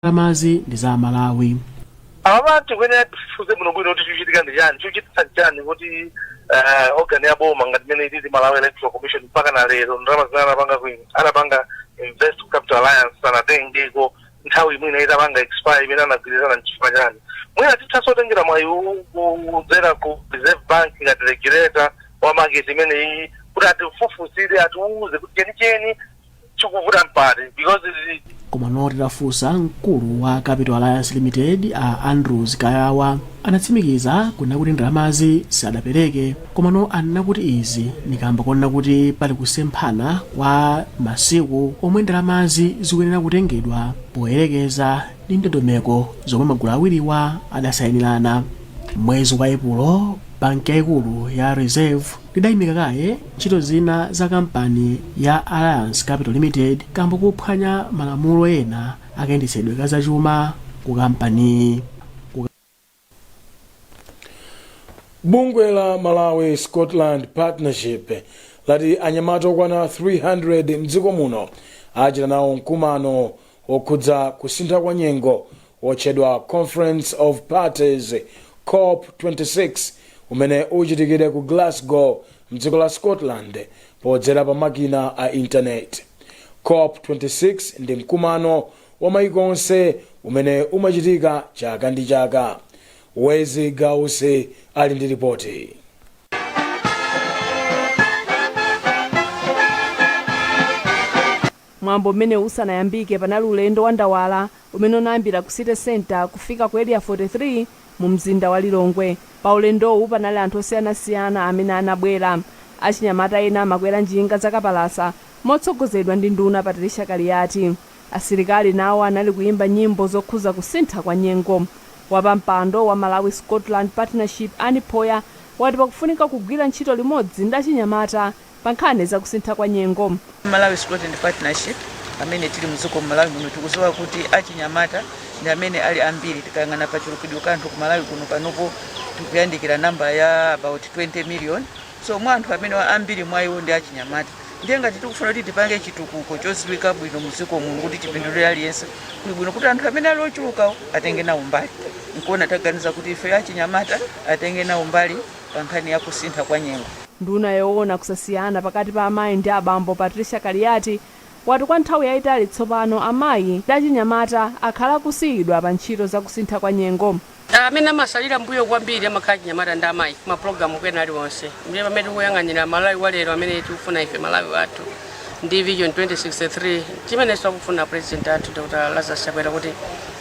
ndalamazi ndi za amalawi apa tikuyenera tifufuze bwinobwino kuti chikuchitika ndi chani chikuchititsa ndi chani kuti eh, organ ya boma ngati imene ilili Malawi Electoral Commission mpaka na lero ndalama zimene anapanga ku- anapanga invest ku Capital Alliance sanatengeko nthawi imene itapanga expire imene anagwirizana nchifukwa chani mwina tithaso kutengera mwayi u- u- kudzera ku Reserve Bank ngati regulator wa market imeneyi kuti atifufuzire atiuze kuti chenicheni chikuvuta mpati because zi- komano titafunsa mkulu wa capital alliance limited a andrews kayawa anatsimikiza kunena kuti ndalamazi sadapereke komano anena kuti izi ndi kamba konena kuti pali kusemphana kwa masiku omwe ndalamazi zikuyenera kutengedwa poyerekeza ndi ndondomeko zomwe magulu awiriwa adasayinirana mwezi wa epulo banki yaikulu ya reserve idaimika kaye ntchito zina za kampani ya alliance capital limited kamba kophwanya malamulo ena akayendetsedwe ka zachuma ku kampaniyi bungwe la malawi scotland partnership lati anyamata okwana 300 mdziko muno achita nawo mkumano wokhudza kusintha kwa nyengo wotchedwa Conference of Parties, cop 26, umene uchitikire ku Glasgow mdziko la Scotland podzera pa makina a internet. Cop 26 ndi mkumano wa mayiko onse umene umachitika chaka ndi chaka. Wezi Gausi ali ndi lipoti. Mwambo umene usanayambike panali ulendo wa ndawala umene unayambira ku City Centre kufika ku Area 43 mu mzinda wa Lilongwe. Pa ulendowu panali anthu osiyanasiyana amene anabwera. Achinyamata ena amakwera njinga za kapalasa motsogozedwa ndi nduna Patricia Kaliati. Asilikali nawo anali kuyimba nyimbo zokhuza kusintha kwa nyengo. Wapampando wa Malawi Scotland Partnership Annie Phoya wati pakufunika kugwira ntchito limodzi ndi achinyamata pa nkhani za kusintha kwa nyengo. Malawi Scotland Partnership amene tili mdziko mmalawi muno tikuziwa kuti achinyamata ndi amene ali ambiri tikayang'ana pa kachulukidwe ka anthu ku malawi kuno panopo tikuyandikira namba ya about 20 million so mwa anthu amenewa ambiri mwa iwo ndi achinyamata ndiye ngati tikufuna kuti tipange chitukuko choziwika bwino mdziko muno kuti chipindulire aliyense kuli bwino kuti anthu amene ali ochulukawo atenge nawo mbali nkuona taganiza kuti ife achinyamata atenge nawo mbali pa nkhani ya kusintha kwa nyengo. Nduna yoona kusasiyana pakati pa amayi ndi abambo Patricia Kaliati wati kwa nthawi yaitali tsopano amayi ndi achinyamata akhala akusiyidwa pa ntchito za kusintha kwa nyengo. Amene amasalira mbuyo kwambiri amakhala achinyamata ndi amayi ku mapulogalamu ena aliwonse ndiye pamene tikuyang'anira Malawi wa lero amene tikufuna ife, Malawi wathu. ndi vision 2063 chimenenso akufuna president athu dr lazarus chakwera kuti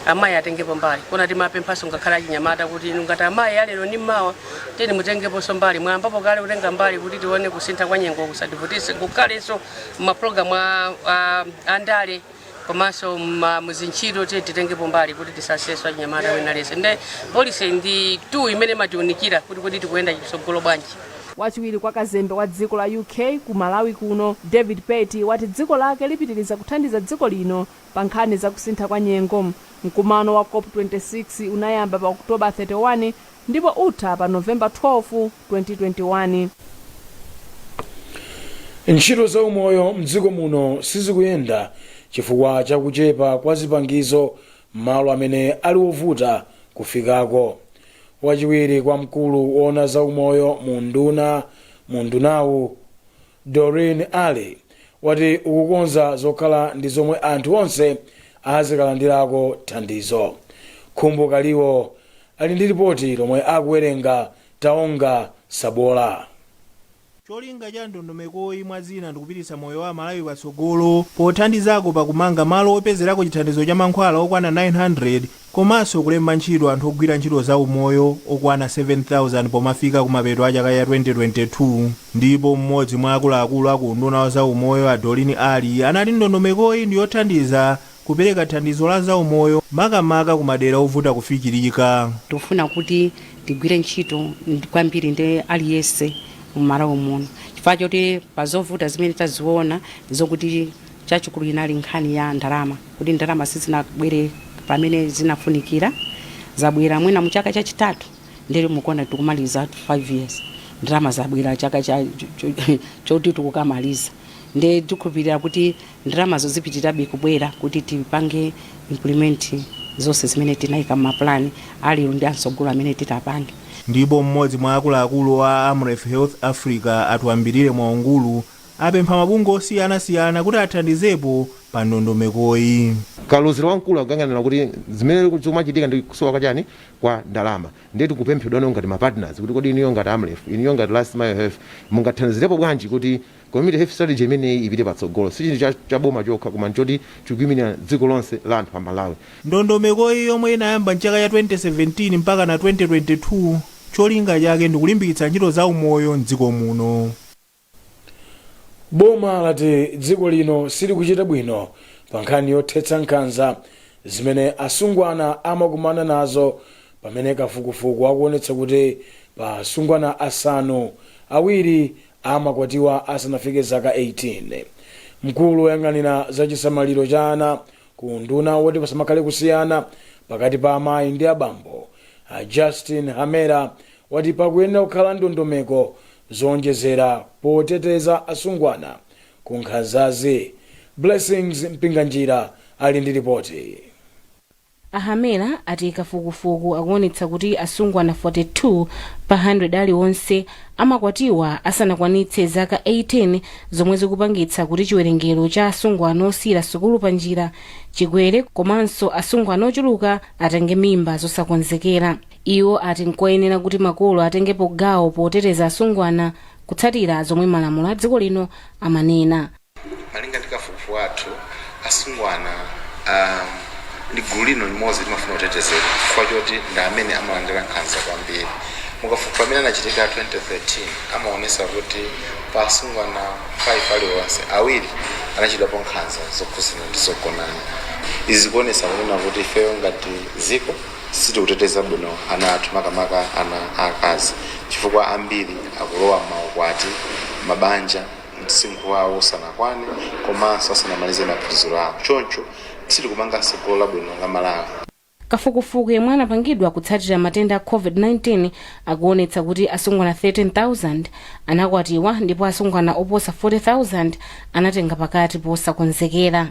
amayi atengepo mbali koma timapemphanso ngakhale achinyamata kuti inu ngati amayi alero ndi mawa tiyeni mutengeponso mbali mwayambapo kale kutenga mbali kuti tione kusintha kwa nyengo kusativutise kukhalenso m'mapulogalamu a- a- andale komanso ma- muzintchito tiye titengepo mbali kuti tisasese achinyamata wina lese nde polisi ndi tool imene imatiunikira kuti kodi tikuyenda chitsogolo bwanji wachiwiri kwa kazembe wa dziko la uk ku malawi kuno david pert wati dziko lake lipitiriza kuthandiza dziko lino pa nkhani za kusintha kwa nyengo mkumano wa cop 26 unayamba pa oktoba 31 ndipo utha pa November 12, 2021. Ntchito za umoyo mdziko muno sizikuyenda chifukwa cha kuchepa kwa zipangizo m'malo amene ali ovuta kufikako. Wachiwiri kwa mkulu woona za umoyo mu unduna mu undunawu, Doreen Ali, wati ukukonza zokhala ndi zomwe anthu onse azikalandirako thandizo. Khumbo Kaliwo ali ndi lipoti lomwe akuwerenga Taonga Sabola. Cholinga cha ndondomekoyi mwa zina ndikupititsa moyo wa Amalawi patsogolo pothandizako pa kumanga malo opezerako chithandizo cha mankhwala okwana 900 komanso kulemba ntchito anthu ogwira ntchito za umoyo okwana 7,000 pomafika kumapeto a chaka ya 2022 ndipo m'modzi mwa akuluakulu a ku unduna wa za umoyo a Doreen Ali anati ndondomekoyi ndiyothandiza Kupereka thandizo la zaumoyo makamaka ku madera ovuta kufikirika. Tikufuna kuti tigwire ntchito kwambiri ndi aliyense mu Malawi muno chifukwa choti pa zovuta zimene taziona ndizokuti chachikulu inali nkhani ya ndalama kuti ndalama sizinabwere pamene zinafunikira. Zabwera mwina mu chaka chachitatu ndiye mukuona tikumaliza 5 years ndalama zabwera chaka choti tikukamaliza ndiye tikhulupirira kuti. Ndalamazo zipitirabe kubwera kuti tipange implement zonse zimene tinaika mma plan alero ndi amtsogolo amene titapange. Ndipo mmodzi mwa akuluakulu a Amref Health Africa a Twambilire Mwaungulu apempha mabungwe osiyana siyana kuti athandizepo pa ndondomekoyi. Kalozera wamkulu akuyang'anira kuti zimene zikumachitika ndi kusowa kwa chani kwa ndalama ndiye tikupemphedwa ifeyo ngati ma partners kuti kodi inuyo ngati Amref inuyo ngati Last Mile Health mungathandizirepo bwanji kuti Community Health Strategy imeneyi ipite patsogolo sichinthu cha boma chokha koma nchoti chikuiminira dziko lonse la anthu a Malawi. Ndondomekoyi yomwe inayamba mchaka cha 2017 mpakana 2022 cholinga chake ndikulimbikitsa ntchito za umoyo m'dziko muno. Boma lati dziko lino silikuchita bwino pa nkhani yothetsa nkhanza zimene asungwana amakumana nazo pamene kafukufuku akuonetsa kuti pa asungwana asanu, awiri amakwatiwa asanafike zaka 18. Mkulu woyang'anira za chisamaliro cha ana ku unduna woti pasamakhale kusiyana pakati pa amayi ndi abambo, a Justin Hamera, wati pakuyenera kukhala ndondomeko zoonjezera poteteza asungwana ku nkhanzazi. Blessings Mpinganjira ali ndi lipoti. A Hamera ati kafukufuku akuonetsa kuti asungwana 42 pa 100 aliwonse amakwatiwa asanakwanitse zaka 18 zomwe zikupangitsa kuti chiwerengero cha asungwana osiyira sukulu panjira chikwere komanso asungwana ochuluka atenge mimba zosakonzekera. Iwo ati nkoyenera kuti makolo atengepo gawo poteteza asungwana kutsatira zomwe malamulo a dziko lino amanena. Malinga ndi kafukufuku wathu, asungwana ndi gulu lino limodzi limafuna kutetezedwa chifukwa choti ndi amene amalandira nkhanza kwambiri. Mukafukufuku amene anachitika 2013 amaonesa kuti pa asungwana 5 aliwonse, awiri anachitidwapo nkhanza zokhuzana ndi zogonana. Izi zikuonesa kunena kuti ifeyo ngati dziko sitikuteteza bwino ana athu makamaka ana akazi chifukwa ambiri akulowa maukwati, mabanja. msinkhu wawo usanakwane komanso asanamalize maphunziro awo choncho sitikumanga tsogolo labwino la Malawi. Kafukufuku yemwe anapangidwa kutsatira matenda a Covid-19 akuonetsa kuti asungwana 13,000 anakwatiwa ndipo asungwana oposa 40,000 anatenga pakati posakonzekera.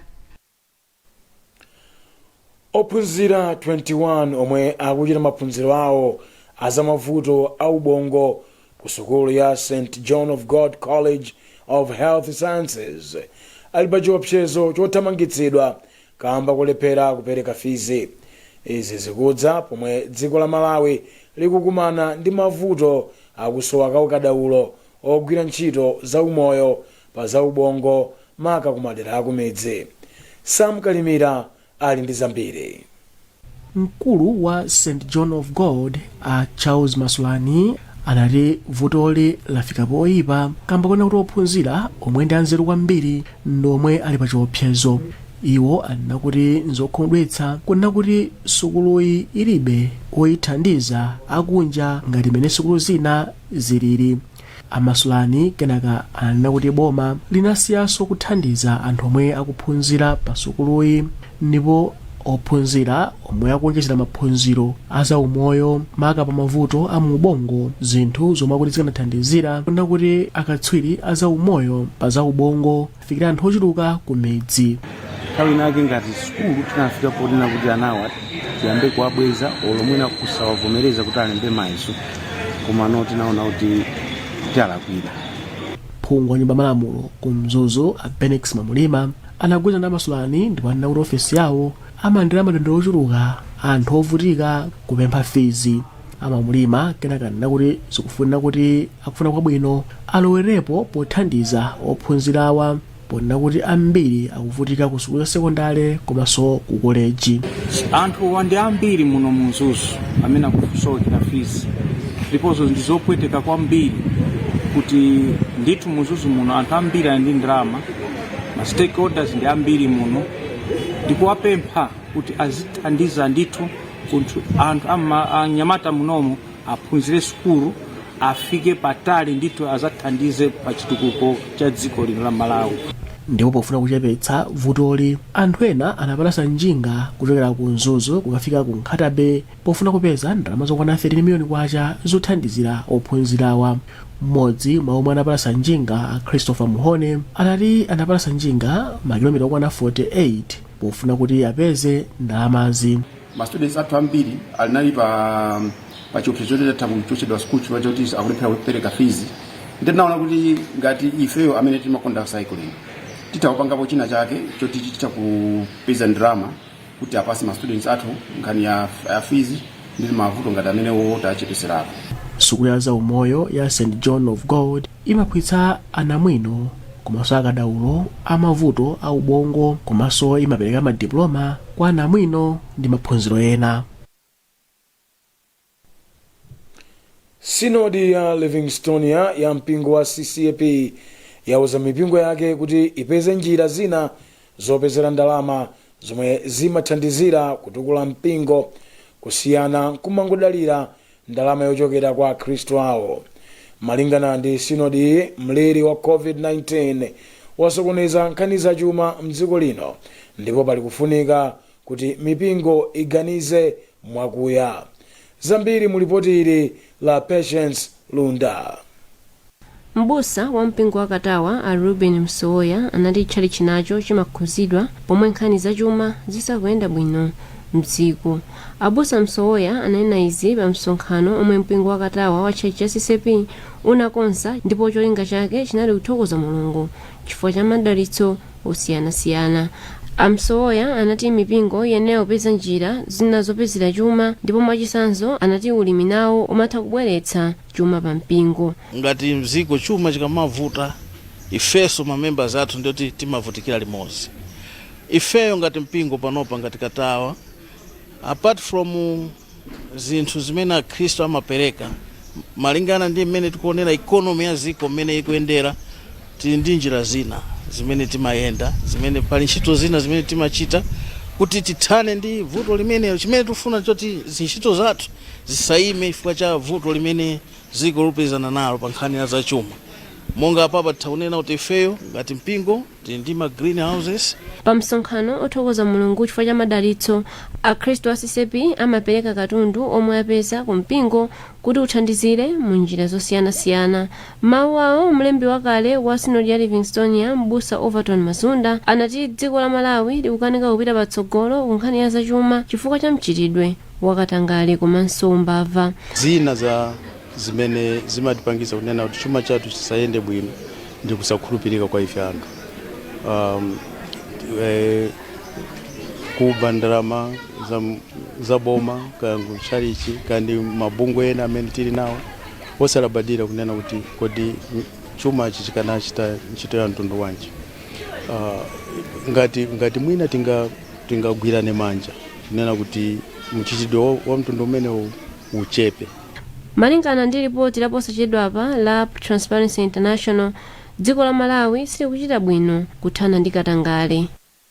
ophunzira 21 omwe akuchita maphunziro awo azamavuto a ubongo ku sukulu ya st john of god college of health sciences ali pa chiopsezo chothamangitsidwa kamba kolephera kupereka fizi izi zikudza pomwe dziko la malawi likukumana ndi mavuto akusowa kwa akadaulo ogwira ntchito za umoyo pa za ubongo maka kumadera akumidzi. Sam Kalimira ali ndi zambiri. Mkulu wa St John of God a Charles Masulani anati vutoli lafika poyipa kamba konena kuti ophunzira omwe ndi anzeru kwambiri ndi omwe ali pa chiopsezo iwo anena kuti nzokhumudwitsa kunena kuti sukuluyi ilibe oyithandiza akunja ngati mene sukulu zina zilili A Masulani kenaka ananena kuti boma linasiyanso kuthandiza anthu omwe akuphunzira pa sukuluyi ndipo ophunzira omwe akuonjezera maphunziro a za umoyo maka pa mavuto a mu ubongo zinthu zomwe akuti zikanathandizira kunena kuti akatswiri a za umoyo pa za ubongo afikira anthu ochuluka ku midzi nthawi inake ngati sukulu tinafika ponena kuti anawa tiyambe kuwabweza olo mwina kusawavomereza kuti alembe mayeso komano tinaona kuti tiwalakwira phungu wa nyumba ya malamulo ku mzuzu a bennex mwamlima anagwirizana ndi a masulani ndipo anena kuti ofesi yawo amalandira madandaulo ochuluka a anthu ovutika kupempha fizi a mwamlima kenaka anena kuti zikufunika kuti akufuna kwabwino alowerepo pothandiza ophunzirawa ponena kuti ambiri akuvutika ku sukulu za sekondale komanso ku koleji anthuwa ndi ambiri muno mu mzuzu amene akusowa fizi ndiponso ndi zopweteka kwambiri kuti ndithu mu mzuzu muno anthu ambiri ali ndi ndalama ma stakeholders ndi ambiri muno ndikuwapempha kuti azithandiza ndithu kuti anthu ama- anyamata munomu aphunzire sukulu afike patali ndithu azathandize pa chitukuko cha dziko lino la malawi ndipo pofuna kuchepetsa vutoli anthu ena anapalasa njinga kuchokera ku mzuzu kukafika ku nkhata bay pofuna kupeza ndalama zokwana 13 miliyoni kwacha zothandizira ophunzirawa mmodzi mwa omwe anapalasa njinga a christopher muhone anati anapalasa njinga makilomita okwana 48 pofuna kuti apeze ndalamazi. ma students athu ambiri alinali pa pa chiopsezo choti atha kuchotsedwa school chifukwa choti akulephera kupereka fees ndiye tinaona kuti ngati ifeyo amene timakonda cycling titha kupangapo china chake choti titha kupeza ndalama kuti apasse ma students athu nkhani ya, ya fees ndi mavuto ngati amenewo tachepetserako sukulu ya zaumoyo ya st john of god Imaphunzitsa anamwino komanso akadaulo a mavuto a ubongo komanso imapereka ma diploma kwa anamwino ndi maphunziro ena. Sinodi ya Livingstonia ya mpingo wa CCAP yauza mipingo yake kuti ipeze njira zina zopezera ndalama zomwe zimathandizira kutukula mpingo kusiyana nkumangodalira ndalama yochokera kwa akhristu awo. Malingana ndi sinodiyi, mliri wa COVID-19 wasokoneza nkhani zachuma m'dziko lino ndipo pali kufunika kuti mipingo iganize mwakuya. Zambiri mu lipoti ili la Patience Lunda. M'busa wa mpingo wa Katawa a Reuben Msowoya anati tchalitchi nacho chimakhuzidwa pomwe nkhani za chuma zisakuyenda bwino mdziko. Abusa Msowoya ananena izi pa msonkhano omwe mpingo wa Katawa wa tchalitchi cha CCAP unakonza ndipo cholinga chake chinali kuthokoza Mulungu chifukwa cha madalitso osiyanasiyana. A Msowoya anati mipingo iyenera kupeza njira zina zopezera chuma ndipo mwachitsanzo anati ulimi nawo umatha kubweretsa. chuma pa mpingo. Ngati mziko chuma chikamavuta ifeso ma members athu ndioti timavutikira limodzi ifeyo ngati mpingo panopa ngati katawa apart from zinthu zimene akhristu amapereka malingana ndi mmene tikuonera economy ya ziko mmene ikuyendera Tili ndi njira zina zimene timayenda, zimene pali ntchito zina zimene timachita kuti tithane ndi vuto limenelo. Chimene tufuna choti zintchito zathu zisayime chifukwa cha vuto limene dziko lupezana nalo pa nkhani ya zachuma. Monga apapa titha kunena kuti ifeyo ngati mpingo tili ndi ma green houses. Pa msonkhano othokoza Mulungu chifukwa cha madalitso, akhristu a CCAP amapereka katundu omwe apeza ku mpingo kuti uthandizire mu njira zosiyanasiyana. M'mawu awo, mlembi wakale wa Sinodi ya Livingstonia, Mbusa Overton Mazunda, anati dziko la Malawi likukanika kupita patsogolo ku nkhani ya zachuma chifukwa cha mchitidwe wa katangale komanso umbava. Zina za zimene zimatipangisa kunena kuti chuma chathu chisayende bwino ndi kusakhulupirika kwa ife anthu, um, eh, kuba ndalama za, za boma kaya ku tchalichi kaya ndi mabungwe ena amene tili nawo Osalabadira kunena kuti kodi chumachi chikanachita ntchito ya mtundu wanji, ah, ngati, ngati mwina tinga, tingagwirane manja kunena kuti mchitidwe wa, wa mtundu umenewu uchepe. Malingana ndi lipoti laposachedwapa la Transparency International, dziko la Malawi silikuchita bwino kuthana ndi katangale.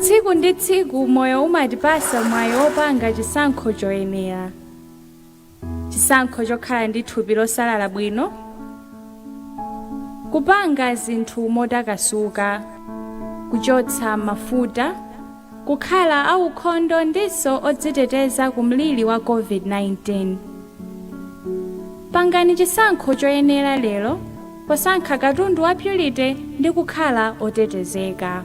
tsiku ndi tsiku moyo umatipasa mwayi opanga chisankho choyenera chisankho chokhala ndi thupi losalala bwino kupanga zinthu motakasuka kuchotsa mafuta kukhala aukhondo ndinso odziteteza ku mliri wa covid-19 pangani chisankho choyenera lero posankha katundu wa purity ndi kukhala otetezeka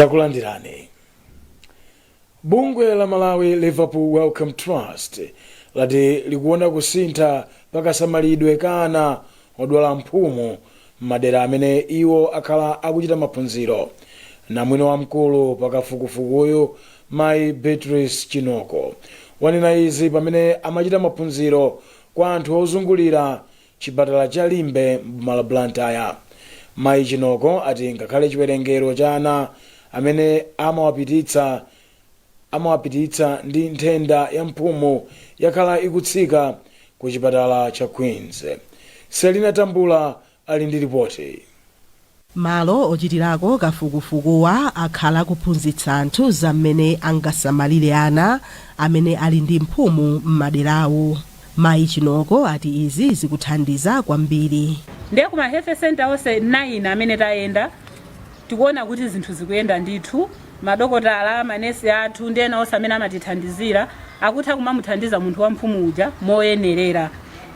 takulandirani bungwe la malawi liverpool wellcome trust lati likuona kusintha pakasamalidwe ka ana odwala mphumu m'madera amene iwo akhala akuchita maphunziro. Namwino wamkulu pa kafukufukuyu mayi Beatrice Chinoko wanena izi pamene amachita maphunziro kwa anthu ozungulira chipatala cha Limbe m'boma la Blantyre. Mayi Chinoko ati ngakhale chiwerengero cha ana amene amawapititsa amawapititsa ndi nthenda ya mphumu yakhala ikutsika ku chipatala cha Queens. Sellina Tambula ali ndi lipoti. Malo ochitirako kafukufukuwa akhala akuphunzitsa anthu za mmene angasamalire ana amene ali ndi mphumu m'maderawo. Mayi Chinoko ati izi zikuthandiza kwambiri. Ndiye ku ma health centre onse 9 amene tayenda, Tikuona kuti zinthu zikuyenda ndithu. Madokotala, manesi athu ndi ena onse amene amatithandizira akutha kumamuthandiza munthu wa mphumu uja moyenerera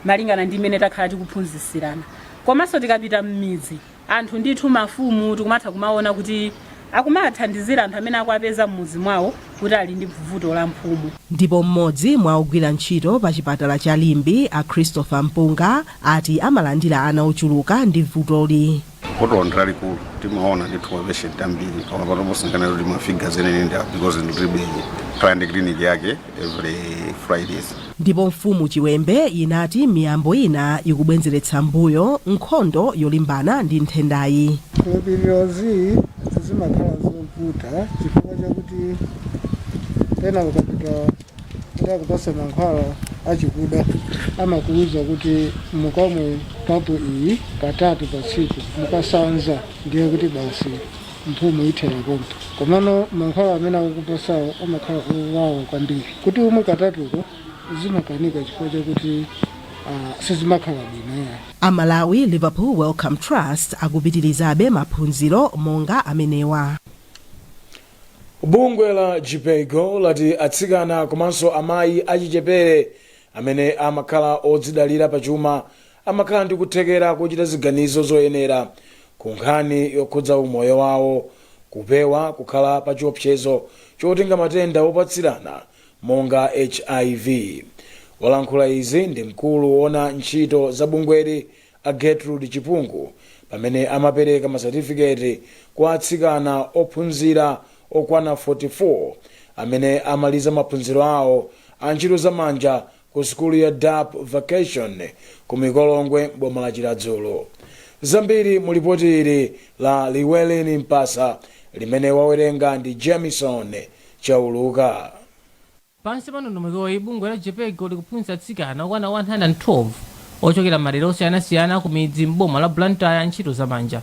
malingana ndi mmene takhala tikuphunzitsirana. Komanso tikapita m'midzi, anthu ndithu, mafumu tikumatha kumaona kuti akumawathandizira anthu amene akuwapeza m'mudzi mwawo kuti ali ndi vuto la mphumu. Ndipo mmodzi mwa ogwira ntchito pa chipatala cha Limbe, a Christopher Mpunga, ati amalandira ana ochuluka ndi vutoli. vuto ndi lalikulu timaona ndithu mapeshenti ambiri koma pano posangana kuti mafiga enieni ndi because ndiribe timakhala ndi clinic yake every fridays ndipo mfumu chiwembe inati miyambo ina ikubwenzeretsa mbuyo nkhondo yolimbana ndi nthendayi zikhulupirirozi zimakhala zovuta chifukwa chakuti pena ukapita Kuti akupatse mankhwala achikuda, amakuuza kuti mukamwe kapu iyi katatu pa tsiku. Mukasanza ndiye kuti basi mphumu ithera pompho. Komano mankhwala amene akukupatsawo amakhala owawa kwambiri. Kuti umwe katatuko zimakanika chifukwa chakuti ah, sizimakhala bwino ya. A Malawi Liverpool Wellcome Trust akupitirizabe maphunziro monga amenewa. Bungwe la Jhpiego lati atsikana komanso amayi achichepere amene amakhala odzidalira pachuma amakhala ndi kuthekera kochita ziganizo zoyenera ku nkhani yokhudza umoyo wawo, kupewa kukhala pa chiopsezo chotenga matenda opatsirana monga hiv. Walankhula izi ndi mkulu woona ntchito za bungweli A Gertrude Chipungu pamene amapereka ma certificate kwa atsikana ophunzira okwana 44 amene amaliza maphunziro awo a ntchito za manja ku sukulu ya Dapp Vocational ku Mikolongwe m'boma la Chiradzulu. Zambiri mu lipoti ili la Llewellyn Mpasa limene wawerenga ndi Jamison Chauluka. Pansi pa ndondomekoyi, bungwe la Jhpiego likuphunzitsa atsikana okwana 112 ochokera m'madera osiyanasiyana akumidzi m'boma la Blantyre ntchito za manja.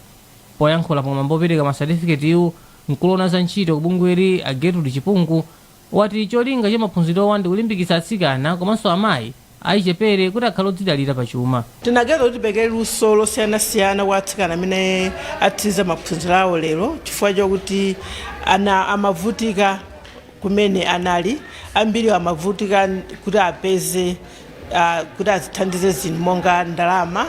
Poyankhula pa mwambo opereka ma satifiketiwu, mkulu owona za ntchito ku bungweli a Gertrude Chipungu wati cholinga cha maphunzirowa ndikulimbikitsa atsikana komanso amayi achichepere kuti akhale odzidalira pa chuma. Tinaganiza kuti tipereke luso losiyanasiyana kwa atsikana amene atsiriza maphunziro awo lero chifukwa chokuti aa amavutika kumene anali. Ambiriwo amavutika kuti apeze, a, kuti azithandize zinthu monga ndalama.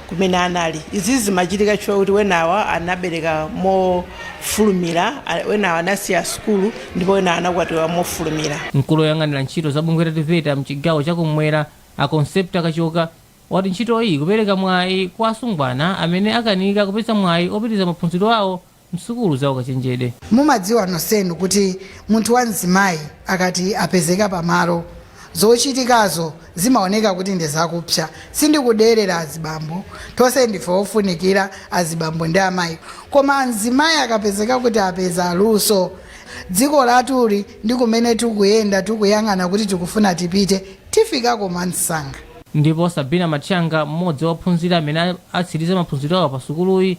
kumene anali. Izi zimachitika chifukwa kuti wenawa anabereka mofulumira, a- wenawa anasiya sukulu ndipo wenawa anakwatiwa mofulumira. Mkulu oyang'anira ntchito za bungwe la TVETA mchigawo cha kummwera a Concepta Kachoka wati ntchito iyi ikupereka mwayi kwa asungwana amene akanika kupeza mwayi opitiriza maphunziro awo m'sukulu za ukachenjede. Mumadziwa nonsenu kuti munthu wa mzimayi akati apezeka pa malo, zochitikazo zimaoneka kuti ndi zakupsa. Sindikuderera azibambo, tonse ndife ofunikira azibambo ndi amayi. Koma mzimayi akapezeka kuti apeza luso, dziko lathuli ndi kumene tikuyenda tikuyang'ana kuti tikufuna tipite, tifikako mwamsanga. Ndipo Sabina Matchanga, m'modzi wa ophunzira amene atsiriza maphunziro awo pa sukuluyi,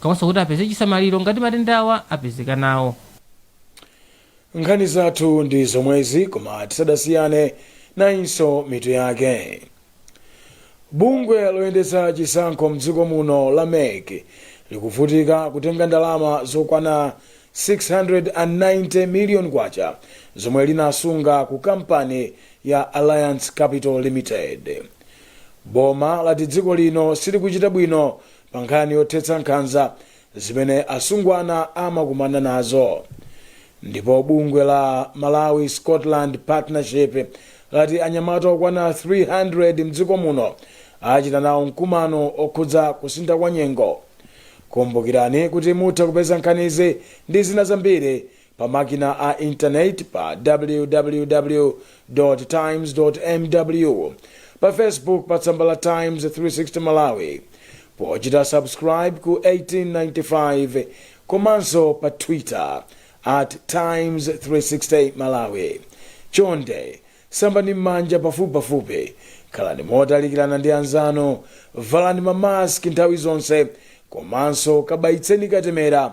komanso kuti apeze chisamaliro ngati matendawa apezeka nawo. nkhani zathu ndi zomwezi koma tisadasiyane nayinso mitu yake bungwe loyendetsa chisankho mdziko muno la mec likuvutika kutenga ndalama zokwana 690 million kwacha zomwe linasunga ku kampani ya alliance capital limited boma lati dziko lino silikuchita bwino pa nkhani yothetsa nkhanza zimene asungwana amakumana nazo ndipo bungwe la malawi scotland partnership lati anyamata okwana 300 mdziko muno achita nawo mkumano okhudza kusintha kwa nyengo kumbukirani kuti mutha kupeza nkhanizi ndi zina zambiri pa makina a intaneti pa www times mw pa facebook pa tsamba la times 360 malawi pochita subscribe ku 1895 komanso pa twitter at times 360 malawi chonde sambani m'manja pafupipafupi khalani motalikirana ndi anzanu valani mamaski nthawi zonse komanso kabayitseni katemera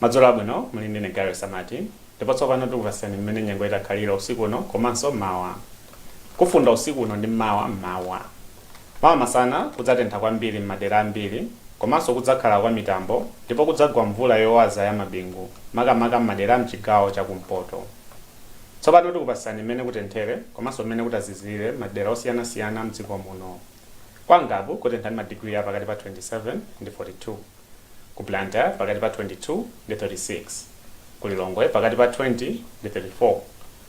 madzulo abwino muli ndine gary samati ndipo tsopano tikupatsirani mmene nyengo itakhalira usiku uno komanso mawa kufunda usiku uno ndi mmawa mmawa Mawa masana kudzatentha kwambiri m'madera ambiri komanso kudzakhala kwa mitambo ndipo kudzagwa mvula yowaza ya mabingu makamaka m'madera a m'chigawo cha kumpoto. Tsopano tikupatsirani mmene kutenthere komanso mmene kutazizirire m'madera osiyanasiyana m'dziko muno. Kwa Ngabu kutentha ndi madigiri a pakati pa 27 ndi 42, ku Blantyre pakati pa 22 ndi 36, ku Lilongwe pakati pa 20 ndi 34,